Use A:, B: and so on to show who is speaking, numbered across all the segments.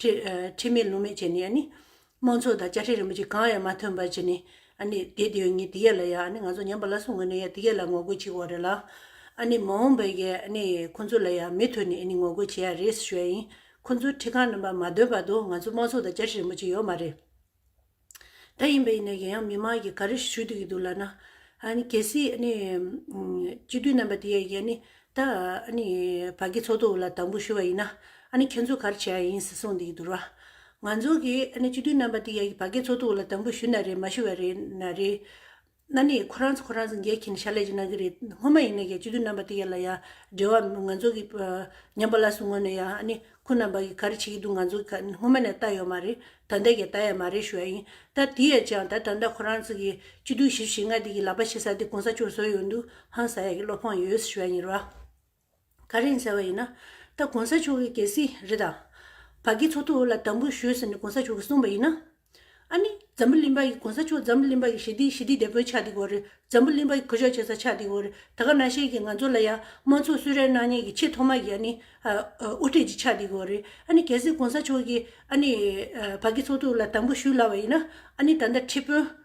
A: ཁྲིད་མེད་ལུང་མེད་བྱས་ནས་ནི། དམངས་ཚོགས་དང་བཅའ་ཁྲིམས་རིན་པོ་ཆེ་གང་ཡང་མ་ཐོན་པར་བྱས་ནས། དེའི་དོན་ངས་དེ་ག་ལ་ཡང་ང་ཚོ་ཉམས་པ་ལ་སོང་གི་ནས་དེ་ག་ལ་ངོ་རྒོལ་བྱེད་དགོས་རེད་ལ། མ་འོངས་པའི་ཁོང་ཚོ་ལ་ཡང་མི་མཐུད་ནས་ངོ་རྒོལ་བྱེད་ཡ་རེད་ཟེར་ཞོད་ཡིན། ཁོང་ཚོའི་ཁྲིད་ཁང་རྣམ་པ་མ་འདོན་བར་དུ་ང་ཚོ་དམངས་ཚོགས་དང་བཅའ་ཁྲིམས་རིན་པོ་ཆེ་ཡོད་མ་རེད། ད་ཡིན་པས་ཡིན་ན་ཡང་ཡང་མི་མང་གིས་ག་རེ་ཞུ་འདོད་ཀྱི་འདུག་ལབ་ན། གལ་སྲིད་སྤྱི་འཐུས་རྣམ་པ་དེ་ཡང་ཡང་ད་བག་གི་ཚོགས་འདུ་ལ་དང་པོ་ཞུ་བ་ཡིན་ན། ཁྱེད་ཚོ་ག་རེ་བྱས་ཡ་ཡིན་ཟེར་གསུངས་འདོད་ཀྱི་འདུག་ར། ང་ཚོ་གིས་སྤྱི་འཐུས་རྣམ་པ་དེ་ཡང་བག་གི་ཚོགས་འདུ་ལ་དང་པོ་ཞུ་ན་རེད་མ་ཞུ་བ་རེད་ན་རེད། གནའ་ནས་ཁོ་རང་ཚོ་ཁོ་རང་ཚོ་འགལ་གྱིན་ཞར་ལས་ཀྱི་གནང་གི་རེད་སྔོན་མ་ཡིན་ན་ཡང་སྤྱི་འཐུས་རྣམ་པ་དེ་ཡ་ལ་ཡ་འབྲེལ་བ་ང་ཚོ་གི་ཉམས་པ་ལ་སུ་ངོ་ནས་ཡང་ཨ་ནི་ཁོ་རྣམ་པ་གི་ག་རེ་བྱེད་ཀྱི་འདུག་ང་ཚོ་གི་སྔོན་མ་ནས་ལྟ་ཡོད་མ་རེད་ད་ལྟ་ཡང་ལྟ་ཡ་མ་རེད་ཞུ་ཡ་ཡིན་ད་དེ་ཡ་ཅང་ད་ད་ལྟ་ཁོ་རང་ཚོ་གི་སྤྱི་འཐུས་ཞེ་བཞི་ཞེ་ལྔ་དེ་གི་ལག་པ་ཕྱེ་ས་དེ་གོང་ས་མཆོག་བཟོ་ཡོད་འདུག་ཧང་ཟ་ཡ་གི་བློ་ཕངས་ཡོད་ཞུ་ཡ་ཡིན་ར། ག་རེ་ཡིན་ཟེར་བ་ཡིན་ན། ད་གོང་ས་མཆོག་གིས་གལ་སྲིད་རི་དྭགས་བ་ཀའི་ཚོགས་ཐོག་ལ་དམ་འབུལ་ཞུས་ཟེར་ནས་གོང་ས་མཆོག་གིས་གསུངས་པ་ཡིན་ན། ཨ་ནི་འཛམ་བུ་གླིང་པ་ཡིས་གོང་ས་མཆོག་འཛམ་བུ་གླིང་པ་ཡི་ཞི་བདེའི་ཞི་བདེའི་དེད་དཔོན་ཆགས་འདི་གོ་རེད། འཛམ་བུ་གླིང་པ་ཡི་གུ་ཞབས་བྱེད་ས་ཆགས་འདི་གོ་རེད། ད་ག་ན་ཤེས་ཀྱི་ང་ཚོ་ལ་ཡང་དམངས་ཚོགས་སུད་རའི་ནག་ཉེས་ཀྱི་ཆེས་ཐོག་མ་ཡི་ཨ་ནི་དབུ་ཁྲིད་ཅིག་ཆགས་འདི་གོ་རེད། ཨ་ནི་གལ་སྲིད་གོང་ས་མཆོག་གིས་ཨ་ནི་བ་ཀའི་ཚོགས་ཐོག་ལ་དམ་འབུལ་ཞུས་སླ་བ་ཡིན་ན། ཨ་ནི་ད་ལྟ་ཁྲི་དཔོན།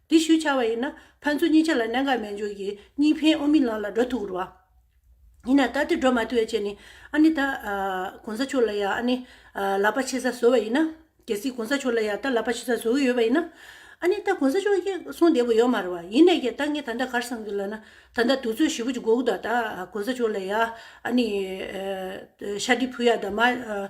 A: དེ་ཞུས་བྱ་བ་ཡིན་ན་ཕན་ཚུན་གཉིས་ཆ་ལ་གནད་འགག་མེད་འཇུག་གིས་གཉིས་ཕན་དབུ་མའི་ལམ་ལ་འགྲོ་ཐུབ་རུང། ཡིན་ན་ད་དེ་འགྲོ་མ་ཐུབ་བའི་ཆེད་ནས་ཨ་ནི་ད། གོང་ས་མཆོག་ལ་ཡང་ཨ་ནི། ལག་པ་ཕྱེ་ས་བཟོ་བ་ཡིན་ན། གལ་སྲིད་གོང་ས་མཆོག་ལ་ཡང་ད་ལག་པ་ཕྱེ་ས་བཟོ་གི་ཡོད་པ་ཡིན་ན། ཨ་ནི་ད་གོང་ས་མཆོག་གིས་གསུང་བདེ་པོ་ཡོད་མ་རེད་བ། ཡིན་ནས་ཀྱང་ད་ངས་ད་ལྟ་གར་སོང་གི་ལ་ན། ད་ལྟ་དུས་ཚོད་བཞི་བོ་གཅིག་འགོར་གི་འདུག་ད་ད་གོང་ས་མཆོག་ལ་ཡང་ཨ་ནི། ཤ་དྲི་ཕུ་ཡ་ད་མ།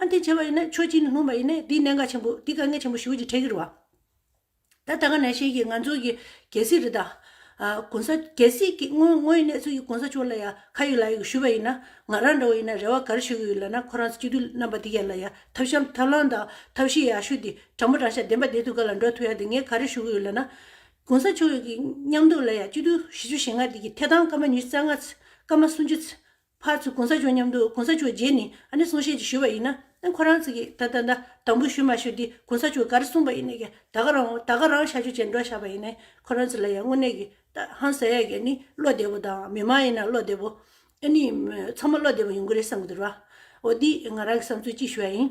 A: ཨ་འདི་བྱས་པ་ཡིན་ན་ཆོས་སྤྱི་ནས་ལྷུང་བ་ཡིན་ན་དེའི་གནད་འགག་ཆེན་པོ་དེ་དཀའ་ངལ་ཆེན་པོ་ཞུ་རྒྱུ་ཆེ་གི་རེད་བ། ད་ད་ག་ནས་ཤེས་ཀྱི་ང་ཚོ་གི་གལ་སྲིད་རེད་ད། གོང་ས་གལ་སྲིད་ཀྱི་དངོས་དངོས་ཡིན་ན་ཚུལ་གྱི་གོང་ས་མཆོག་ལ་ཡ་ཁ་ཡོད་ལག་ཡོད་ཞུས་པ་ཡིན་ན་ང་རང་འདྲ་བོ་ཡིན་ན་རེ་བ་ག་རེ་ཞུ་གི་ཡོད་ལབ་ན་ཁོ་རང་ཚོ་སྤྱི་འཐུས་རྣམ་པ་དེ་ག་ལ་ཡ་ཐབས་ཤམ་ཐབས་ལམ་དང་ཐབས་ཤེས་ཡ་ཞུ་དེ་དྲང་པོ་དྲང་ཤ་བདེན་པ་བདེན་ཐུགས་ག་ལ་འགྲོ་ཐུགས་ཡ་དེ་ངས་ག་རེ་ཞུ་གི་ཡོད་ལབ་ན། གོང་ས་མཆོག་གི་མཉམ་འདུག་ལ་ཡ་སྤྱི་འཐུས་བཞི་ཅུ་ཞེ་ལྔ་དེ་གི་ཐད་དང་སྐར་མ་ཉུ་རྩ་ལྔ་ཚེ་སྐར་མ་སུམ་ཅུ་ཚེ་ཕར་ཚུར་གོང་ས་མཆོག་མཉམ་དུ་གོང་ས་མཆོག་རྗེས་ནི་ཨ་ནི་གསུང་བཤད་ཅིག་ཞུས་པ་ཡིན་ན་ཁོ་རང་ཚིག་ད་ད་ད་དང་པོ་ཞུ་མ་ཞུ་འདི་གོང་ས་མཆོག་ག་རེ་གསུངས་པ་ཡིན་ནས་ཀྱི་ད་ག་རང་ད་ག་རང་བྱ་རྒྱུ་བྱེད་འགྲོ་བཞག་པ་ཡིན་ནས་ཁོ་རང་ཚིག་ལ་ཡང་དངོས་གནས་ཀྱི་ད་ཧང་ཟེར་ཡ་གྱི་ནི་བློ་བདེ་པོ་དང་མི་མང་ཡིན་ན་བློ་བདེ་པོ་ཨ་ནི་ཚང་མ་བློ་བདེ་པོ་ཡོང་གི་རེད་བསམ་གྱི་འདུག་ར་འོ་འདིས་ང་རང་གི་བསམ་ཚུལ་གཅིག་ཞུ་བ་ཡིན།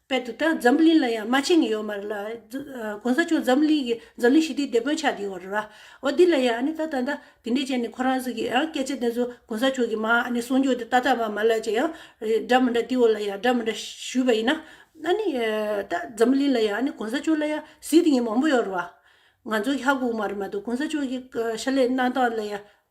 A: དཔལ་དུ་དང་འཛམ་བུ་གླིང་ལ་ཡང་མ་ཕྱིན་ཡོད་མ་རེད་ལ། གོང་ས་མཆོག་འཛམ་བུ་གླིང་གི་འཛམ་གླིང་ཞི་བདེའི་སྡེ་དཔོན་ཆགས་ཀྱི་ཡོད་རེད་བ། འོ་འདི་ལ་ཡང་ཨ་ནི་ད་ད་ད་དེ་འདྲས་ཅན་ནི་ཁོ་རང་ཟིག་གིས་ཡང་སྐད་ཆ་དེ་ཚོ་གོང་ས་མཆོག་གིས་མ་ཨ་ནི་གསུང་ཆོག་དེ་ད་ད་མ་མ་ལབ་ཅིག་ཡང། འདྲ་མི་འདྲ་དེ་འོ་ལ་ཡང་འདྲ་མི་འདྲ་ཞུས་པ་ཡིན་ན། ཨ་ནི། ད་འཛམ་བུ་གླིང་ལ་ཡང་ཨ་ནི་གོང་ས་མཆོག་ལ་ཡང་གཟིགས་དེ་ཉིད་མང་པོ་ཡོད་རེད་བ། ང་ཚོ་ཧྱ་གོ་མ་རེད་མ་གཏོགས་གོང་ས་མཆོག་གི་ཤ་ལས་གནང་སྟངས་ལ་ཡང་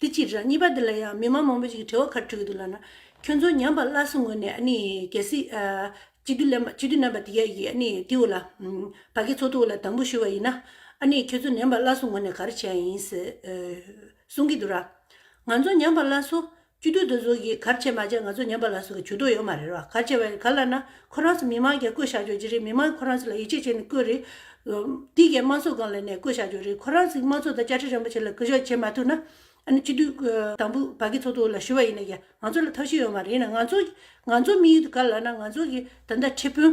A: དེ་གཅིག་རེད། གཉིས་པ་འདི་ལ་ཡང་མི་མང་མང་པོ་ཞིག་གི་དྲི་བ་ཁ་དྲུད་ཀྱི་འདུག་ལགས་ན། ཁྱོད་ཚོ་ཉམས་པ་སླར་གསོ་ངོས་ནས་ནི་གལ་སྲིད། གཅིག་སྡུད་ལེན་གཅིག་སྡུད་ནན་པ་དེ་ག་ཡིས་ནི་དེ་འོ་ལ། བ་ཀའི་ཚོགས་འདུ་འོ་ལ་དང་པོ་ཞུ་བ་ཡིན་ན། ནི་ཁྱོད་ཚོ་ཉམས་པ་སླར་གསོ་ངོས་ནས་ག་རེ་བྱས་ཡིན། གསུང་གི་འདུག་ར། ང་ཚོ་ཉམས་པ་སླར་གསོ། བཅུ་བདུན་དུ་ཟུར་གྱིས་གར་བྱེད་མ་བྱེད་ང་ཚོ་ཉན་པ་ལ་སོགས་ཀྱི་བྱུས་གཏོགས་ཡོད་མ་རེད་རོ། གར་བྱེད་བས་ག་ལ་ན་ཁོ་རང་ཚོ་མི་མང་གྱ་བསྐོས་བཞག་རྒྱུ་ཅི་རེད་མི་མང་གི་ཁོ་རང་ཚོ་ལ་ཡིད་ཆེས་བྱེད་ནས་བསྐོས་རེད། འདི་གའི་དམངས་ཚོགས་གང་ལ་ནས་བསྐོས་བཞག་རྒྱུ་རེད་ཁོ་རང་ཚོས་དམངས་ཚོགས་དང་བཅའ་ཁྲིམས་རིན་པོ་ཆེ་ལ་བསྐོས་བཞག་བྱེད་མ་ཐུབ་ན། ཨ་ནི་བཅུ་བདུན་དང་པོ་བར་གྱི་ཚོགས་གཏོགས་ལ་ཞུ་བ་ཡིན་ན་ཡང་ང་ཚོ་ལ་ཐབས་ཤེས་ཡོད་མ་རེད་ཡིན་ན་ང་ཚོ་ང་ཚོ་མི་ཡུལ་དུ་ག་ལ་ན་ང་ཚོ་གི་ད་ལྟ་ཁྲི་དཔོན།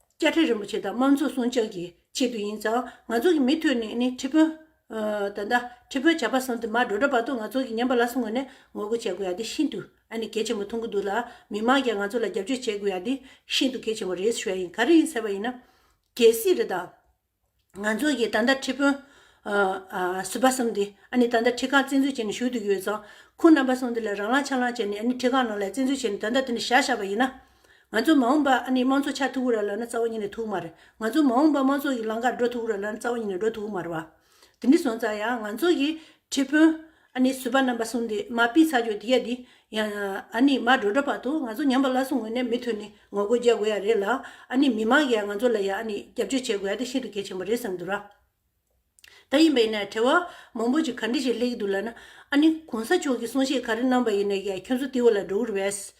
A: བཅའ་ཁྲི་རིན་པོ་ཆེ་དང་དམངས་གཙོ་སྲུང་སྐྱོང་གི་ཆེད་དུ་ཡིན་ཙང་ང་ཚོ་གི་མི་ཐུ་ནི་ནི་ཁྲི་དཔོན། ད་ད་ཁྲི་དཔོན་བྱ་བ་སོང་དུ་མར་འགྲོ་འདྲ་བར་དུ་ང་ཚོ་གི་ཉན་པ་ལ་སུ་ངོ་ནས་ངོ་རྒོལ་བྱེད་དགོས་ཡ་དེ་ཤིན་ཏུ་ཨ་ནི་གལ་ཆེན་པོ་མཐོང་གི་འདུག་ལ་མི་མང་ཀྱང་ང་ཚོ་ལ་རྒྱབ་སྐྱོར་བྱེད་དགོས་ཡ་དེ་ཤིན་ཏུ་གལ་ཆེན་པོ་རེད་ཞུ་ཡ་ཡིན་ག་རེ་ཡིན་ཟེར་བ་ཡིན་ན། གལ་སྲིད་རེ་ད། ང་ཚོ་ཡི་ད་ལྟ་ཁྲི་དཔོན། ཟུར་པ་གསུམ་འདི་ཨ་ནི་ད་ལྟ་ཁྲི་ཁག་བཙན་འཛུལ་བྱས་ནས་བཞུགས་འདུག་ཡོད་ཙང། ཁོང་རྣམ་པ་གསུམ་འདི་ལ་རང་ལངས་ཕྱག་ལངས་བྱས་ནས་ཨ་ནི་ཁྲི་ཁག་ནང་ལ་བཙན་འཛུལ་བྱས་ནས་ད་ལྟ་འདི་ནས་ཞག་བཞག་པ་ཡིན་ན། ང་ཚོ་མ་འོངས་པ་ཨ་ནི་དམངས་གཙོ་ཆགས་ཐུབ་ར་ལ་ན་རྩ་བ་ཉིད་ནས་ཐུབ་མ་རེད། ང་ཚོ་མ་འོངས་པ་དམངས་གཙོ་ཡི་ལང་ཀར་འགྲོ་ཐུབ་ར་ལ་ན་རྩ་བ་ཉིད་ནས་འགྲོ་ཐུབ་མ་རེད་བ། འདི་འདྲི་སོང་ཙང་ཡང་ང་ཚོ་ཡི་ཁྲི་དཔོན། ཨ་ནི་བཟོད་པ་རྣམ་པ་གསུམ་དེས་མ་དཔེའི་ཚ་འཇོག་འདི་ཡ་འདི། ཡང། ཨ་ནི་མ་འགྲོ་འགྲོ་བར་དུ་ང་ཚོ་ཉམས་པ་སླར་གསོ་ངོས་ནས་མི་ཐུབ་ནི་ངོ་རྒོལ་རྒྱག་དགོས་ཡ་རེད་ལ། ཨ་ནི་མི་མང་གིས་ཡང་ང་ཚོ་ལ་ཡང་ཨ་ནི་རྒྱབ་སྐྱོར་བྱེད་དགོས་ཡ་དེ་ཤིན་ཏུ་གལ་ཆེན་པོ་རེད་བསམ་འདུག་ར། ད་ཡིན་པ་ཡིན་ན་བྲེལ་བ་མང་པོ་ཅིག་ག་འདྲི་ཞིག་སླེབས་ཀྱི་འདུག་ལ་ན། ཨ་ནི་གོང་ས་མཆོག་གིས་གསུང་བཤད་ག་རེ་གནང་པ་ཡིན་ན་ཡང་ཁྱོད་ཚོ་ཏི་བོ་ལ་འགྲོ་འུར་བས།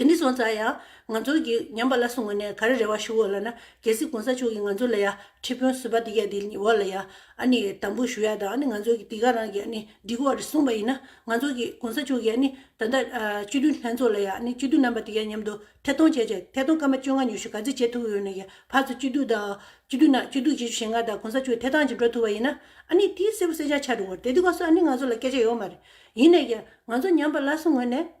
A: དེ་ནས་བཟུང་ཙང་ཡང་ང་ཚོ་གིས་ཉམས་པ་ལ་སོང་བ་ནས་ག་རེ་རེ་བ་ཞུ་འོ་ལ་ན་རྒྱལ་སྲིད་གོང་ས་མཆོག་གིས་ང་ཚོ་ལ་ཡང་ཁྲི་དཔོན་བཟོས་པ་འདི་ག་འདི་འོ་ལ་ཡང་ཨ་ནི་དམ་འབུལ་ཞུ་ཡ་དང་ཨ་ནི་ང་ཚོ་གིས་འདི་ག་རང་གིས་ཨ་ནི་འདི་གོ་བ་རེ་གསུངས་པ་ཡིན་ན་ང་ཚོ་གིས་གོང་ས་མཆོག་གིས་ཨ་ནི་ད་ལྟ་སྤྱི་མཐུན་ལྷན་ཚོགས་ལ་ཡང་ཨ་ནི་སྤྱི་མཐུན་རྣམ་པ་འདི་ག་མཉམ་དུ་ཐད་གཏོང་བྱས་ཆེད་ཐད་གཏོང་སྐར་མ་བཅོ་ལྔ་ཉུ་ཤུ་ག་ཚད་བྱེད་ཐུབ་ཡོད་ན་ཡང་བར་དུ་སྤྱི་མཐུན་དང་སྤྱི་མཐུན་ནང་སྤྱི་མཐུན་བྱེད་ཆུ་ཞེ་ལྔ་དང་གོང་ས་མཆོག་ཐད་གཏང་བྱེད་འགྲོ་ཐུབ་པ་ཡིན་ན་ཨ་ནི་དེའི་སེར་བུ་སེར་ཆ་ཆག་འགྲོ་འོ་རེད་དེ་གོང་ས་ཨ་ནི་ང་ཚོ་ལ་སྐད་ཆ་ཡོད་མ་རེད་ཡིན་ན་ཡང་ང་ཚོ་ཉམས་པ་ལ་སོང་བ་ནས།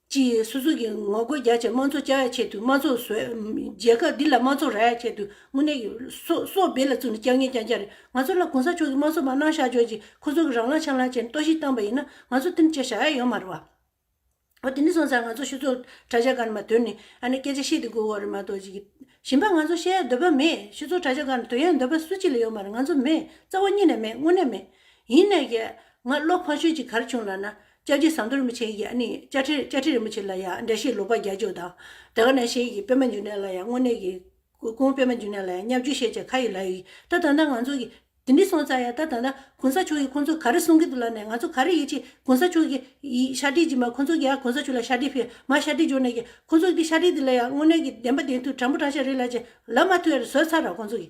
A: གཅིག་སོ་སོ་གི་ངོ་རྒོལ་རྒྱ་ཆེ་མང་ཚོགས་བཅའ་ཡག་ཆེད་དུ་མང་ཚོགས་བཟོས། རྒྱལ་ཁབ་འདི་ལ་མང་ཚོགས་རག་ཡག་ཆེད་དུ་དངོས་གནས་ཡོད། སོ་སོ་སྦེ་ལ་བཙུགས་ནས་སྐྱག་ཉལ་ཀྱང་ཀྱག་རེད། ང་ཚོ་ལ་གོང་ས་མཆོག་གིས་དམངས་གཙོ་མ་གནང་ཤག་ཇོག་ཅིག་ཁོ་ཚོ་གི་རང་ལག་ཆ་ལག་བྱས་ནས་གཏོར་བཤིག་བཏང་པ་ཡིན་ན་ང་ཚོ་དེ་འདྲ་བྱས་ཤག་ཡ་ཡོད་མ་རེད་བ། འོ་དེ་འདྲ་སོང་ཙང་ང་ཚོ་ཤུ་ཚོགས་དྲ་ཇག་གང་ནས་མ་དོན་ནས་ཨ་ནེ་སྐད་ཆ་བཤད་དེ་དགོས་བ་རེད་མ་གཏོགས་ཅིག་གིས། གཞན་པ་ང་ཚོ་བཤད་ཡག་འདོད་པ་མེད་ཤུ་ཚོགས་དྲ་ཇག་གང་ནས་དོན་ཡག་འདོད་པ་སུ་གཅིག་ལ་ཡོད་མ་རེད་ང་ཚོ་མེད་རྩ་བ་གཉིས་ནས་མེད་དངོས་གནས་མེད། ཡིན་ནས་ཀྱང་ང་བློ་ཕངས་ཤོས་ཅིག་གར་བྱུང་ལ་ན་བཅའ་རྒྱའི་ཟངས་མདོག་རིན་པོ་ཆེ་ཡི་ཡ་ནི་བཅའ་ཁྲིར་བཅའ་ཁྲི་རིན་པོ་ཆེ་ལ་ཡང་འབྲས་ཤིང་ལོག་པ་བརྒྱ་བཅུ་དང། དེ་ག་ནས་ཤེས་ཡི་པད་མ་འཇུ་ནས་ལ་ཡང་སྔོ་ནས་ཀྱི། གུང་པད་མ་འཇུ་ནས་ལ་ཡང་ཉག་འཇུ་ཤེས་བྱ་ཁ་ཡི་ལ་ཡི། ད་ད་ད་ང་ཚོ་གི། དེ་འདི་སོང་ཙང་ཡ་ད་ད་ད། གོང་ས་མཆོག་གི་ཁོང་ཚོ་ག་རེ་གསུང་གི་འདུག་ལ་ནས་ང་ཚོ་ག་རེ་ཡིད་ཆེས་གོང་ས་མཆོག་གི། ཤ་ཁྲི་གྱི་མ་ཁོང་ཚོ་གི་ཡ་གོང་ས་མཆོག་ལ་ཤ་ཁྲི་ཕེ་མ་ཤ་ཁྲི་འཇོག་ནས་ཀྱི། ཁོང་ཚོ་གི་ཤ་ཁྲི་འདི་ལ་ཡང་སྔོ་ནས་ཀྱི་བདེན་པ་བདེན་མཐུ་དྲང་པོ་དྲང་ཤ་རེ་ལ་ཅི། ལ་མ་མཐུ་ཡ་རེ་བཟོས་ཚར་ར་ཁོང་ཚོ་གི།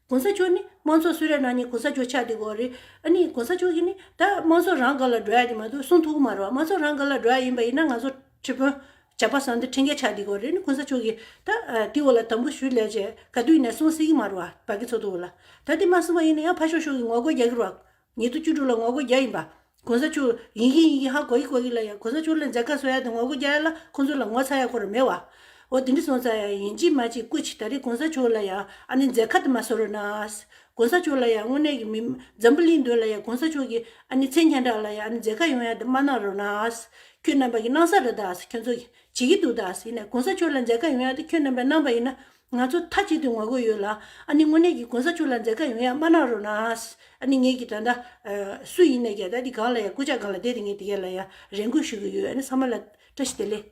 A: གོང་ས་མཆོག་ནི་དམངས་ཚོགས་སུ་རེ་ན་ནི་གོང་ས་མཆོག་ཆགས་འདི་གོ་རེ། ཨ་ནི་གོང་ས་མཆོག་གིས་ནི་ད་དམངས་ཚོགས་རང་དགར་ལ་འགྲོ་ཡ་འདི་མ་འདུག་གསུང་ཐུག་གི་མ་རོ་དམངས་ཚོགས་རང་དགར་ལ་འགྲོ་ཡ་ཡིན་པ་ཡིན་ན་ང་ཚོ་ཁྲི་དཔོན་ཇག་པ་བཟང་འདི་འཁྲིད་མཁན་ཆགས་འདི་གོ་རེ་ནི་གོང་ས་མཆོག་གིས་ད་དེའི་འོག་ལ་དམ་འབུལ་ཞུ་སླད་ཆེད་ག་དུས་ནས་གསུང་སྲིད་གི་མ་རོ་བ་གི་ཚོགས་འདུ་འོག་ལ་ད་འདི་མ་གསུང་བ་ཡིན་ན་ཡང་ཕ་ཤོག་ཤོག་གི་ངོ་རྒོལ་རྒྱག་གི་རོགས། ཉེ་དུ་བཅུ་དྲུག་ལ་ངོ་རྒོལ་བརྒྱ་ཡིན་པ། གོང་ས་མཆོག། ཡིན་གྱི་ཡིན་གྱི་ཧ་གོ་གི་གོ་གི་ལ་ཡང་གོང་ས་མཆོག་ལ་མཛད་དཀའ་བཟོ་ཡ་དང་ངོ་རྒོལ་བརྒྱ་ཡ་ལ་ཁོང་ཚོ་ལ་ངོ་ཚ་ཡ་གོར་མེད་བ། འོ་དེ་འདྲི་སོང་ཙང་ཡང་ཡིན་གཅིག་མ་གཅིག་སྐུ་ཕྱི་ད་རེས་གོང་ས་མཆོག་ལ་ཡང་ཨ་ནི་མཛད་ཁ་དུ་མ་བཟོ་རོ་ནའས། གོང་ས་མཆོག་ལ་ཡང་དངོས་གནས་ཀྱི་མི། འཛམ་བུ་གླིང་འདོད་ལ་ཡང་གོང་ས་མཆོག་གི་ཨ་ནི་མཚན་ཁྱེན་དྲག་ལ་ཡང་ཨ་ནི་མཛད་ཁ་ཡོང་ཡ་དུ་མ་གནང་རོ་ནའས། ཁྱོད་རྣམ་པ་གི་གནང་ས་རེད་དའས་ཁྱོད་ཚོ། བྱེད་གི་འདུག་དའས་ཡིན་ནའི་གོང་ས་མཆོག་ལ་མཛད་ཁ་ཡོང་ཡ་དུ་ཁྱོད་རྣམ་པས་གནང་བ་ཡིན་ན། ང་ཚོ་མཐའ་གཅིག་ཏུ་ངོ་རྒོལ་ཡོད་ལ། ཨ་ནི་དངོས་གནས་ཀྱི་གོང་ས་མཆོག་ལ་མཛད་དཀའ་ཡོང་ཡ་མ་གནང་རོགས་གནང། ཨ་ནི་ངེད་ཀྱི་ད་ལྟ། སུ་ཡིན་ནས་ཀྱ་ད་ལྟི་སྒང་ལ་ཡ་སྐུ་ཕྱྭ་སྒང་ལ་བསྡད་དེ་ངེད་དེ་ག་ལ་ཡ་རེ་འགུལ་ཞུ་གི་ཡོད་ཨ་ནི་ས་མ་ལ། བཀྲ་ཤིས་བདེ་ལེགས།